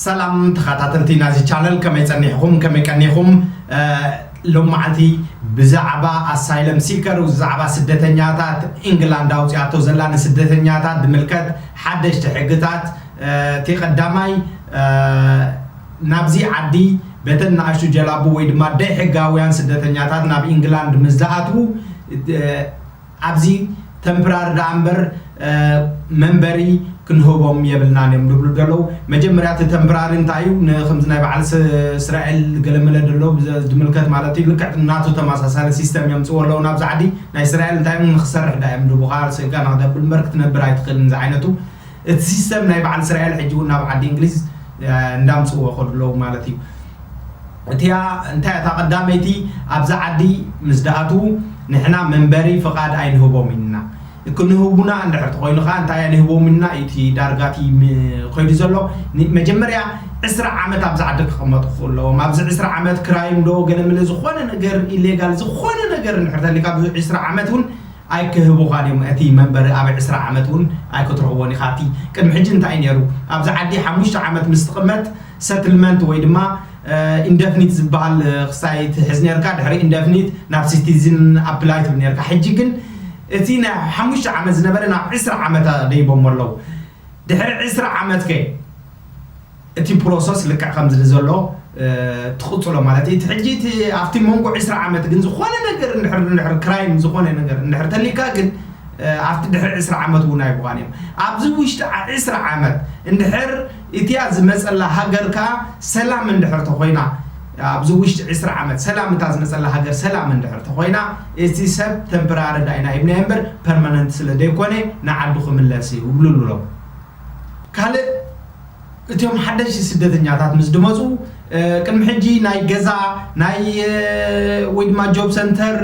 ሰላም ተኻታተልቲ ናዚ ቻነል ከመይ ጸኒሕኹም ከመይ ቀኒኹም ሎም መዓልቲ ብዛዕባ ኣሳይለም ሲከር ብዛዕባ ስደተኛታት ኢንግላንድ ኣውጺኣቶ ዘላ ንስደተኛታት ዝምልከት ሓደሽቲ ሕግታት እቲ ቀዳማይ ናብዚ ዓዲ በተን ንኣሽቱ ጀላቡ ወይ ድማ ደይ ሕጋውያን ስደተኛታት ናብ ኢንግላንድ ምስ ዝኣትዉ ኣብዚ ተምፕራሪ ደኣ እምበር መንበሪ ክንህቦም የብልናን እዮም ድብሉ ደለዉ መጀመርያ እቲ ተምፕራሪ እንታይ እዩ ንክምዚ ናይ በዓል ስራኤል ገለመለ ደሎ ድምልከት ማለት እዩ ልክዕ ናቱ ተማሳሳሊ ሲስተም የምጽዎ ኣለዉ ናብዚ ዓዲ ናይ ስራኤል እንታይ እዮም ንክሰርሕ ደኣ እዮም ድህቡካ ስእጋ ንክተብል እምበር ክትነብር ኣይትክእልን ዝዓይነቱ እቲ ሲስተም ናይ በዓል ስራኤል ሕጂ ውን ናብ ዓዲ እንግሊዝ እንዳምጽዎ ከዱ ኣለዉ ማለት እዩ እቲኣ እንታይ እታ ቀዳመይቲ ኣብዛ ዓዲ ምስ ድኣትዉ ንሕና መንበሪ ፍቃድ ኣይንህቦም ኢልና ክንህቡና እንድሕር ተኮይኑ ከኣ እንታይ ኣይንህቦም ኢልና ኢዩ እቲ ዳርጋ እቲ ከይዱ ዘሎ መጀመርያ ዕስራ ዓመት ኣብዛ ዓዲ ክቅመጡ ክክእሉ ኣለዎም ኣብዚ ዕስራ ዓመት ክራይም ዶ ገለ ምለ ዝኮነ ነገር ኢሌጋል ዝኮነ ነገር እንድሕር ተልዩካ ኣብዚ ዕስራ ዓመት ውን ኣይክህቡካን ኢዮም እቲ መንበሪ ኣብ ዕስራ ዓመት ውን ኣይክትረክቦን ኢካ እቲ ቅድሚ ሕጂ እንታይ ኢዩ ነይሩ ኣብዛ ዓዲ ሓሙሽተ ዓመት ምስ ትቅመጥ ሰትልመንት ወይ ድማ ኢንደፍኒት ዝባሃል ክሳይ ትሕዝ ነርካ ድሕሪ ኢንደፍኒት ናብ ሲቲዝን ኣፕላይ ትብል ነርካ ሕጂ ግን እቲ ናይ ሓሙሽተ ዓመት ዝነበረ ናብ ዕስራ ዓመት ኣደይቦሞ ኣለዉ ድሕሪ ዕስራ ዓመት ከ እቲ ፕሮሰስ ልክዕ ከምዚ ንዘሎ ትቕጽሎ ማለት እዩ እቲ ሕጂ እቲ ኣብቲ መንጎ ዕስራ ዓመት ግን ዝኾነ ነገር እንድሕር እንድሕር ክራይም ዝኾነ ነገር እንድሕር ተሊካ ግን ኣብቲ ድሕሪ ዕስራ ዓመት እውን ኣይብቓን እዮም ኣብዚ ውሽጢ ዕስራ ዓመት እንድሕር እቲኣ ዝመጸላ ሃገር ከኣ ሰላም እንድሕር ተኾይና፣ ኣብዚ ውሽጢ ዕስራ ዓመት ሰላም እታ ዝመጸላ ሃገር ሰላም እንድሕር ተኾይና፣ እቲ ሰብ ተምፕራሪ ዳኣ ኢና ሂብናዮ እምበር ፐርማነንት ስለ ደይኮነ ንዓዱ ክምለስ እዩ እብሉሉ'ሎም። ካልእ እቲኦም ሓደሽቲ ስደተኛታት ምስ ድመጹ፣ ቅድሚ ሕጂ ናይ ገዛ ናይ ወይ ድማ ጆብ ሰንተር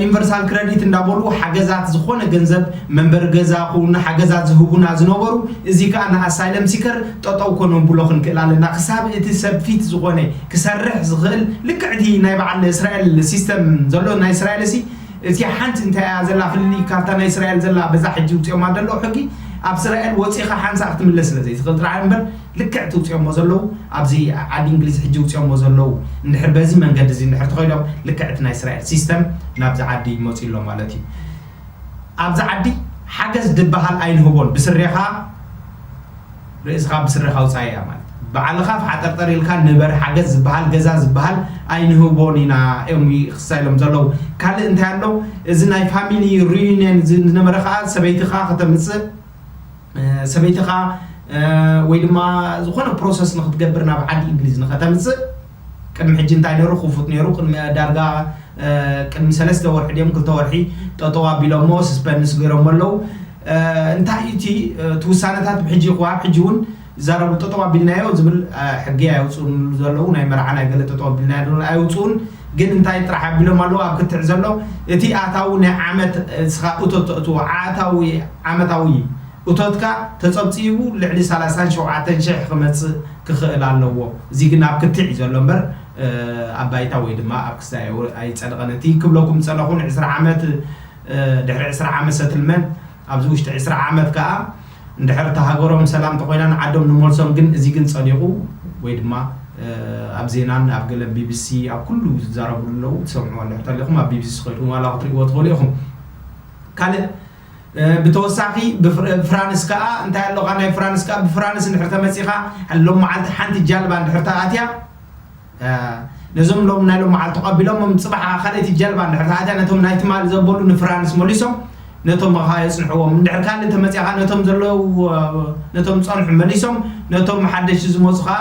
ዩኒቨርሳል ክረዲት እንዳበሉ ሓገዛት ዝኾነ ገንዘብ መንበሪ ገዛ ይኹን ሓገዛት ዝህቡና ዝነበሩ እዚ ከኣ ንኣሳይለም ሲከር ጠጠው ከነብሎ ክንክእል ኣለና ክሳብ እቲ ሰብ ፊት ዝኾነ ክሰርሕ ዝኽእል ልክዕ እቲ ናይ በዓል እስራኤል ሲስተም ዘሎ ናይ እስራኤልሲ እቲ ሓንቲ እንታይ እያ ዘላ ፍልልይ ካብታ ናይ እስራኤል ዘላ በዛ ሕጂ ውጽኦማ ዘሎ ሕጊ ኣብ እስራኤል ወጺኻ ሓንሳእ ክትምለስ ስለ ዘይትኽእል ጥራሕ እምበር ልክዕ እቲ ውጺኦሞ ዘለዉ ኣብዚ ዓዲ እንግሊዝ ሕጂ ውጺኦሞ ዘለዉ እንድሕር በዚ መንገዲ እዚ እንድሕር ተኸይዶም ልክዕ እቲ ናይ እስራኤል ሲስተም ናብዚ ዓዲ ይመጹ ኣሎ ማለት እዩ ኣብዚ ዓዲ ሓገዝ ድበሃል ኣይንህቦን ብስሬኻ ርእስኻ ብስሬኻ ውጻእ እያ ማለት ባዕልኻ ፍሓጠርጠር ኢልካ ንበር ሓገዝ ዝበሃል ገዛ ዝበሃል ኣይንህቦን ኢና እዮም ይኽሳ ኢሎም ዘለዉ ካልእ እንታይ ኣሎ እዚ ናይ ፋሚሊ ሪዩኒየን ዝነበረ ከዓ ሰበይትኻ ከተምጽእ ሰበይትኻ ወይ ድማ ዝኾነ ፕሮሰስ ንክትገብር ናብ ዓዲ እንግሊዝ ንኸተምጽእ ቅድሚ ሕጂ እንታይ ነይሩ ክፉት ነይሩ ቅድሚ ዳርጋ ቅድሚ ሰለስተ ወርሒ ድዮም ክልተ ወርሒ ጠጠው ኣቢሎሞ ስስፐንስ ገይሮሞ ኣለው እንታይ እዩ እቲ እቲ ውሳነታት ብሕጂ ይኹዋ ሕጂ እውን ይዛረቡ ጠጠው ኣቢልናዮ ዝብል ሕጊ ኣየውፅኡን ዘለው ናይ መርዓ ናይ ገለ ጠጠው ኣቢልናዮ ኣየውፅኡን ግን እንታይ ጥራሕ ኣቢሎም ኣለዉ ኣብ ክትዕ ዘሎ እቲ ኣታዊ ናይ ዓመት ንስኻ እቶት ተእትዎ ዓኣታዊ ዓመታዊ እቶትካ ተጸብጺቡ ልዕሊ ሰላሳን ሸውዓተን ሽሕ ክመጽእ ክኽእል ኣለዎ እዚ ግን ኣብ ክትዕ እዩ ዘሎ እምበር ኣብ ባይታ ወይ ድማ ኣብ ክስታይ ኣይጸድቐን እቲ ክብለኩም ዝጸለኹን ዕስራ ዓመት ድሕሪ ዕስራ ዓመት ሰትልመንት ኣብዚ ውሽጢ ዕስራ ዓመት ከኣ እንድሕር እታ ሃገሮም ሰላም እንተኾይና ንዓዶም ንመልሶም ግን እዚ ግን ጸዲቑ ወይ ድማ ኣብ ዜናን ኣብ ገለ ቢቢሲ ኣብ ኩሉ ዝዛረብሉ ኣለዉ ትሰምዕዎ እንድሕር ተሊኹም ኣብ ቢቢሲ ኮይድኩም ዋላ ክትርእይዎ ትኽእሉ ኢኹም ካልእ ብተወሳኺ ፍራንስ ከኣ እንታይ ኣሎኻ ናይ ፍራንስ ከኣ ብፍራንስ እንድሕር ተመጺኻ ሎም መዓልቲ ሓንቲ ጃልባ እንድሕር ተኣትያ ነዞም ሎሚ ናይ ሎሚ መዓልቲ ቀቢሎሞም ጽባሕ ካልእ እቲ ጀልባ እንድሕር ተኣትያ ነቶም ናይ ትማሊ ዘበሉ ንፍራንስ መሊሶም ነቶም መኻ የጽንሕዎም እንድሕር ካልእ ተመጽያ ከኣ ነቶም ዘለዉ ነቶም ዝጸንሑ መሊሶም ነቶም ሓደሽቲ ዝመጹ ከኣ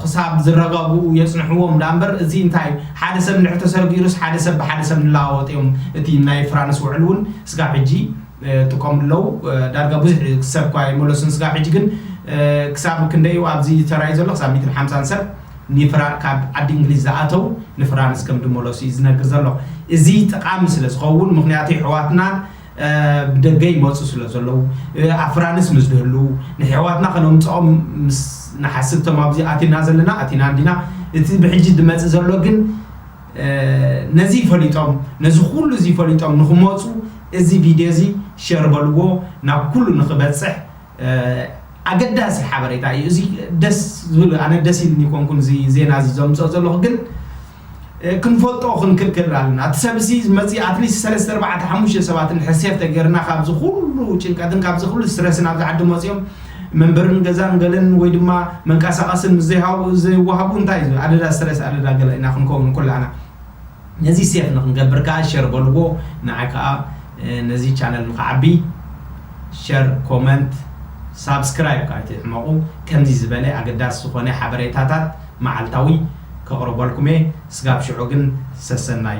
ክሳብ ዝረጋግኡ የጽንሕዎም ደኣ እምበር እዚ እንታይ ሓደ ሰብ እንድሕር ተሰሪጊሩስ ሓደ ሰብ ብሓደ ሰብ ንለዋወጥ እዮም እቲ ናይ ፍራንስ ውዕል እውን ስጋብ ሕጂ ይጥቀሙ ኣለዉ ዳርጋ ብዙሕ ሰብ እኳ ኣይመለሱን ስጋብ ሕጂ ግን ክሳብ ክንደይ እዩ ኣብዚ ተራእዩ ዘሎ ክሳብ ሚእትን ሓምሳን ሰብ ኒፍራ ካብ ዓዲ እንግሊዝ ዝኣተው ንፍራንስ ከም ድመለሱ እዩ ዝነግር ዘሎ እዚ ጠቃሚ ስለ ዝከውን ምክንያቱ የሕዋትና ብደገ ይመጹ ስለ ዘለዉ ኣብ ፍራንስ ምስ ድህልው ንሕዋትና ከነምጸኦም ምስ ንሓስብ እቶም ኣብዚ ኣቲና ዘለና ኣቲና እንዲና እቲ ብሕጂ ድመጽእ ዘሎ ግን ነዚ ፈሊጦም ነዚ ኩሉ እዚ ፈሊጦም ንክመጹ እዚ ቪድዮ እዚ ሸር በልዎ ናብ ኩሉ ንክበጽሕ ኣገዳሲ ሓበሬታ እዩ እዚ ደስ ዝብል ኣነ ደስ ኢልኒ ኮንኩን እዚ ዜና እዚ ዘምጽኦ ዘለኹ ግን ክንፈልጦ ክንክልክል ኣለና እቲ ሰብ እዚ ዝመጽእ ኣትሊስት ሰለስተ ኣርባዕተ ሓሙሽተ ሰባት እንድሕር ሴፍ ተገርና ካብዚ ኩሉ ጭንቀትን ካብዚ ኩሉ ስትረስን ኣብዚ ዓዲ መጽኦም መንበርን ገዛን ገለን ወይ ድማ መንቃሳቀስን ምስ ዘይሃቡ ዘይዋሃቡ እንታይ እዚ ኣደዳ ስትረስ ኣደዳ ገለ ኢና ክንከውን ኩላና ነዚ ሴፍ ንክንገብር ከኣ ሸር በልዎ ንዓይ ከኣ ነዚ ቻነል ንክዓቢ ሸር ኮመንት ሳብስክራይብ ከኣ ኣይትሕመቁ ከምዚ ዝበለ ኣገዳሲ ዝኮነ ሓበሬታታት መዓልታዊ ከቅርበልኩም እየ ስጋብ ሽዑ ግን ሰሰናዩ።